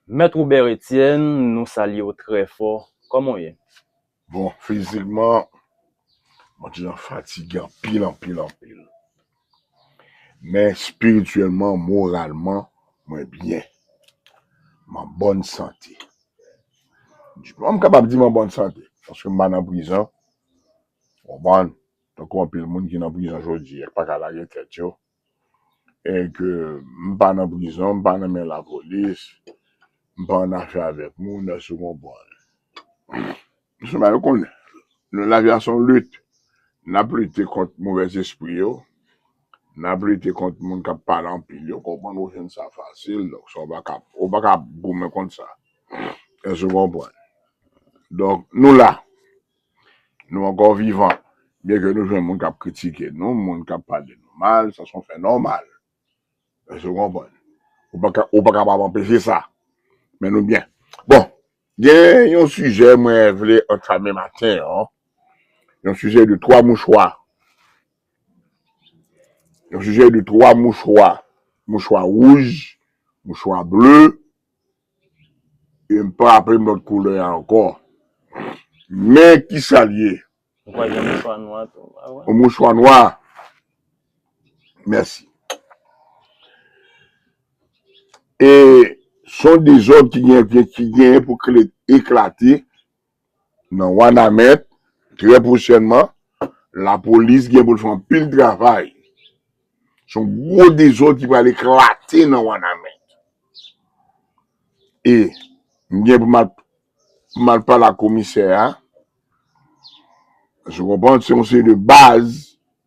Mèt Robert Etienne nou salye w trè fò, kòman w ye? Bon fizikman mwen te nan fatige anpil anpil anpil men espirityèlman moralman mwen byen m an bòn sante m kapab di m an bòn sante paske m pa nan prizon ou konprann tankou anpil moun ki nan prizon jodi a ki pa ka lage tèt yo. e ke m pa nan prizon, m pa nan men lapolis, m pa an afè avèk moun, èske ou konprann? M sèlman yo konnen. Nou lavi a se yon lit. N ap lite kont movèzespri yo, n ap lite kont moun k ap pale anpil yo, konprann ou jwenn sa fasil, donk sa ou pa ka, ou pa ka ap goumen kont sa. Èske ou konprann? Donk nou la. Nou ankò vivan. Byen ke nou jwenn moun k ap kritike nou, moun k ap pale nou mal, sa se yon fè nòmal. Èske ou konprann? Ou pa ka, ou pa kapab anpeche sa. Men nou byen. Bon, gen yon sijè mwen vle antame maten an, yon sijè de twa mouchwa. Yon sijè de twa mouchwa. Mouchwa wouj, mouchwa ble, E m pa raple m lòt koulè a ankò. Men ki sa l ye. Ou pa gen mouchwa nwa tou? Yon mouchwa nwa. Mèsi. E s on dezòd ki gen pou eklate Nan Wanament, trè pwochènman, lapolis gen pou l fè anpil travay. Se yon gwo dezòd ki pral eklate nan Wanament. E, m gen pou m al pale ak komisè a. Èske w konprann? Se yon seri de baz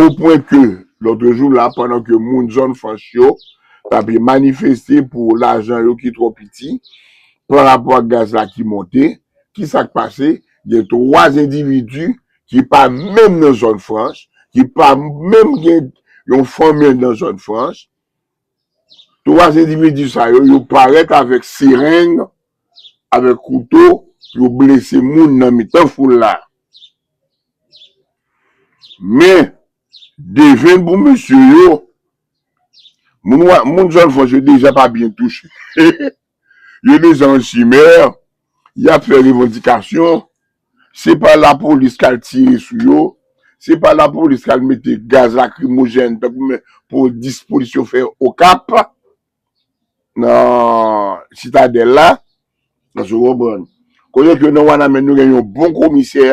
O pwen ke, lòtrejou la, pandan ke moun zòn franch yo t ape manifeste pou lajan yo ki twò piti pa rapò ak gaz la ki monte, ki sa k pase? Gen twa endividi ki pa menm nan zòn franch, ki pa menm gen yon fanmi nan zòn franch, Twa endividi sa yo, yo parèt avèk sereng, avèk kouto pou yo blese moun nan mitan foul la. Men, devèn pou mesye yo, moun zòn fòs yo deja pa byen touche. Yo desann Simer, y ap fè revandikasyon, se pa lapolis k al tire sou yo, se pa lapolis k al mete gaz lakrimojèn tankou men pou dispolis yo fè Okap, nan Sitadèl la, èske w konprann? Kote ke nan Wanament nou gen yon bon komisè,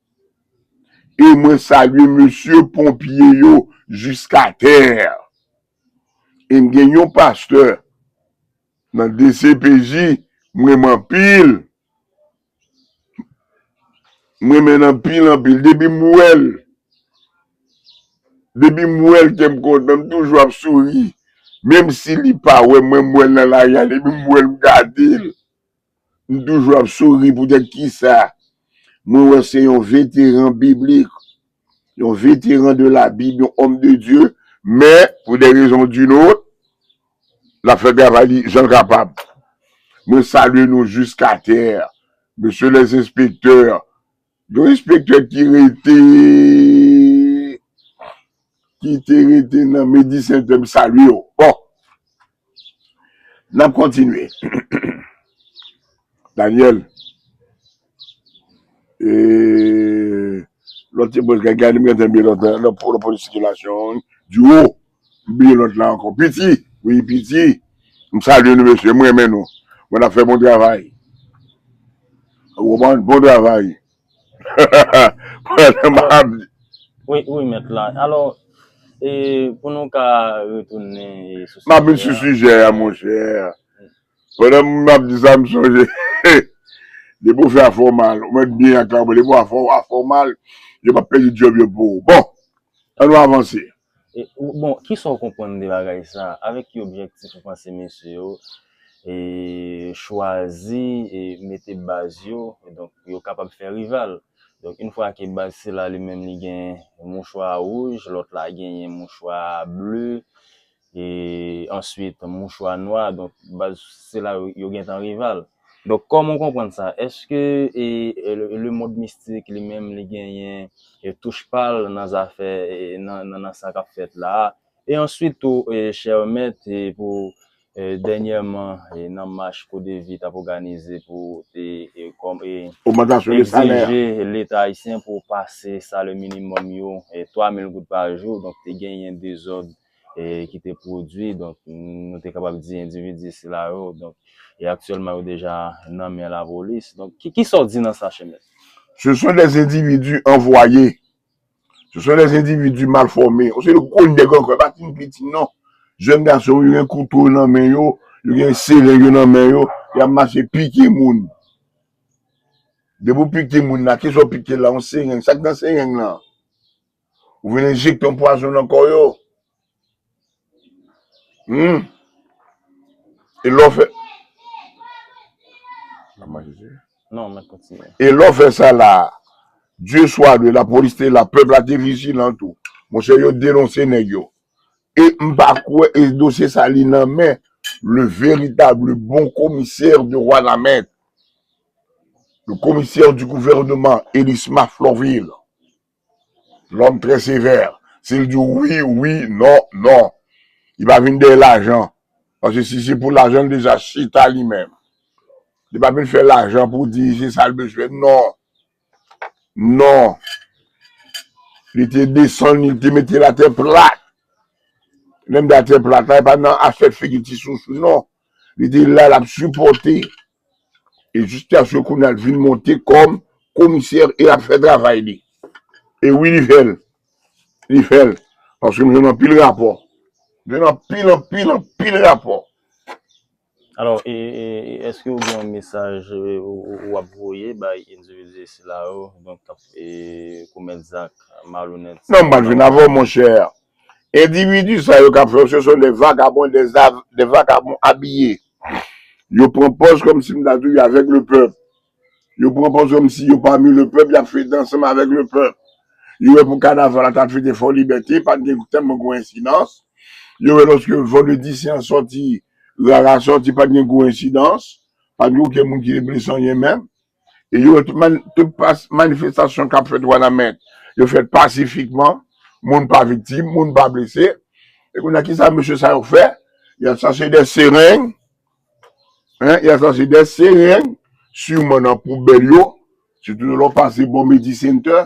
E mwen salye mesye ponpye yo jiska tè. E m gen yon pastè nan dcpj m renmen anpil. M renmen l anpil anpil. Depi m wè l, depi m wè l kè m kontan. M toujou ap souri. Menm si li pa wè mwen, m wè l nan lari a. Depi m wè l, m gade l. M toujou ap souri poutèt kisa? Mwen wè se yon veteran biblik, yon veteran de la Bible, yon homme de Dieu, men pou des raisons d'une autre, l ap fè travay li jan l kapab. Mwen salye nou jusqu'à terre, Monsieur les inspecteurs, Yon enspektè ki rete ki te rete nan Medi Sentè m salye w. Bon n ap kontinye Daniel e lòt ti boz gade m gentan lòt polis sikilasyon an di wo. M bliye lòt la ankò. Piti, wi Piti. M salye nou mesye, m renmen nou. Bon nap fè bon travay. Ou konprann? Bon travay. Pandan m ap di. Wi, wi mèt la. Alò, e pou nou ka retounen sou sijè a. M ap vin sou sijè a monchè. Pandan m ap di sa m sonje, depi ou fè afè w mal, ou mèt byen ak la ou, depi ou afè w mal, yo pa p pèdi djòb yo pou ou. Bon, an nou avanse. Bon, kisa w konprann de bagay sa? Avèk ki objektif ou panse mesye yo chwazi mete baz yo, donk pou yo kapab fè rival? Donk in fwa ke baz sila li menm li gen mouchwa wouj, lòt la genyen mouchwa ble, answit mouchwa nwa, donk baz sila yo gentan rival. Donk kòman ou konprann sa? Èske lemond mistik li menm li genyen touch pa l nan zafè nan sa k ap fèt la a? E answit tou chè mèt pou dènyèman nan mach CODEVI t ap òganize pou te egzije leta ayisyen pou pase salè minimòm yo 3 mil goud pa jou donk te genyen dezòd e ki te pwodui, donk nou te kapab di endividi sila yo, donk e aktyèlman yo deja nan men lapolis. Donk ki ki sa w di nan sa Cheme? Se son des endividi anvwaye, se son des endividi mal fòme, yon seri gwo nèg ankò, yo pa fin piti non. Jèn gason yo gen kouto yo nan men yo, yo gen sereng yo nan men yo, y ap mache pike moun. Depi w pike moun la, ki sa w pike l la? Yon sereng, sa k nan sereng lan? Ou vin enjekte yon pwazon nan kò yo. Humm. E lè w fè. Nan manje ti. Non mèt kontinye. E lè w fè sa la a. Dye swa dwe la polis te la pèp la te vijilan tou. Monchè yo denonse nèg yo. E m pa kwè e dosye sa li nan men le veritab le bon komisè de wanament. Le komisè di gouvèneman Elisma Florvil. Lòm trè sevè, si l di w wi, wi, non, non. Li pa vin dèyè lajan. Paske si se pou lajan, li deja chita li menm. Li pa vin fè lajan pou di se sa l bezwen. Non. Non. Li te desann li, li te mete l atè plat. Lè m di atè plat la, e pa nan afè figi ti sousou non. Li te la, l ap sipòte. E Justiasio kounya l vin monte kòm komisè e ap fè travay li. E wi li fè l. Li fè l. Paske m jwenn anpil rapò. M jwenn anpil anpil anpil rapò. Alò e èske ou gen yon mesaj ou ap voye bay endividi sila yo donk k ap komèt zak malonèt sa yo? Non m pa jwenn avè w monchè. Endividi sa yo kap fè yo se son de vagabon de vagabon abiye yo pran pòz kòm si m ta di yo avèk le pèp yo pran pòz kòm si yo pami le pèp yap fete ansanm avèk le pèp yo wè pou kanaval la ta fete fò libète pat gen tèlman gwo ensidans yo wè lòske vandredi sen sòti rara sòti pat gen gwo ensidans pat gen okenn moun ki te blese anyen menm. E yo tout man, tout pas, manifestasyon kap fèt Wanament, yo fèt pasifikman, moun pa viktim, moun pa blese. E kounye a kisa mesye sa yo fè? Yap chache dè sereng, hein, yap chache dè sereng, siman nan poubèl yo, sitou lè w pase bò Medi Center,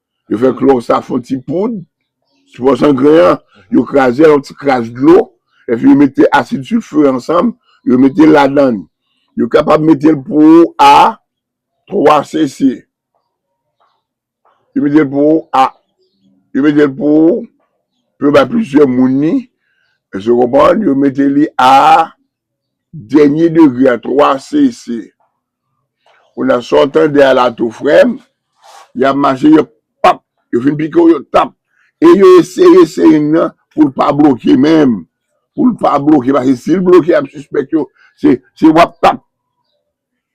Yo fè klò sa fon ti poud, ti pò sangren an, yo kraze yon ti kras dlo, epi yo mete asid silfure ansanm, yo mete l ladann. Yo kapab mete l pou ou a 3 cc. Yo mete l pou ou a, yo mete l pou ou, pou yo bay plizyè moun li, èske w konprann? Yo mete li a dènye degre a 3 cc. Kounye a sa w tande a la tou frè m, y ap mache yo pap, yo fin pike w yo tap e yo eseye sering nan pou l pa bloke menm, pou l pa bloke paske si l bloke y ap sispèk yo se wap tap.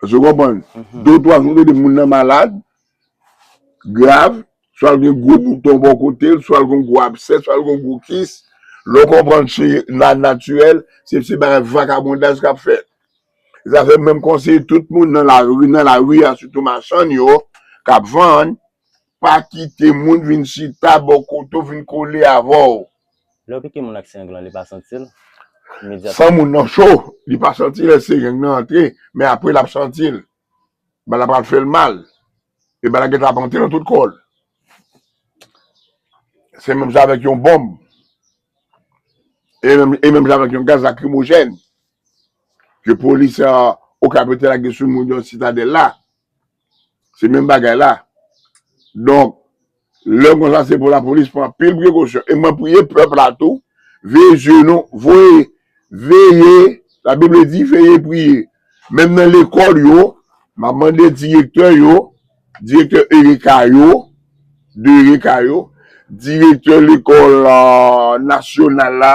Èske w konprann? De twa jou tande moun nan malad grav, swa l gen gwo bouton bò kote l, swa l gen gwo absè, swa l gen gwo kis, lè w konprann se nan natirèl se bagay vakabondaj k ap fèt. Zafèm menm konseye tout moun nan lari nan lari a sitou machann yo kap vann pa kite moun vin chita bò kote w vin kole avè w. Lè yo pike moun ak sereng lan li pa santi l imedyatman. San moun nan cho li pa santi lè sereng nan antre men apre lap santi l. Bal la pral fè l mal e bal la gentan ap antre nan tout kò l. Se menm jan avèk yon bonm e menm jan avèk yon gaz lakrimojèn. ke polis okap yo te lage sou moun yo nan sitadèl la, se menm bagay la, donk lè konsa se pou lapolis pran anpil prekosyon, e mwen priye pèp la tou, veye zye nou, voye, veye, la bib le di veye priye, menm nan lekòl yo, map mande direktè yo, direktè ereka yo, direktè lekòl nasyonal la,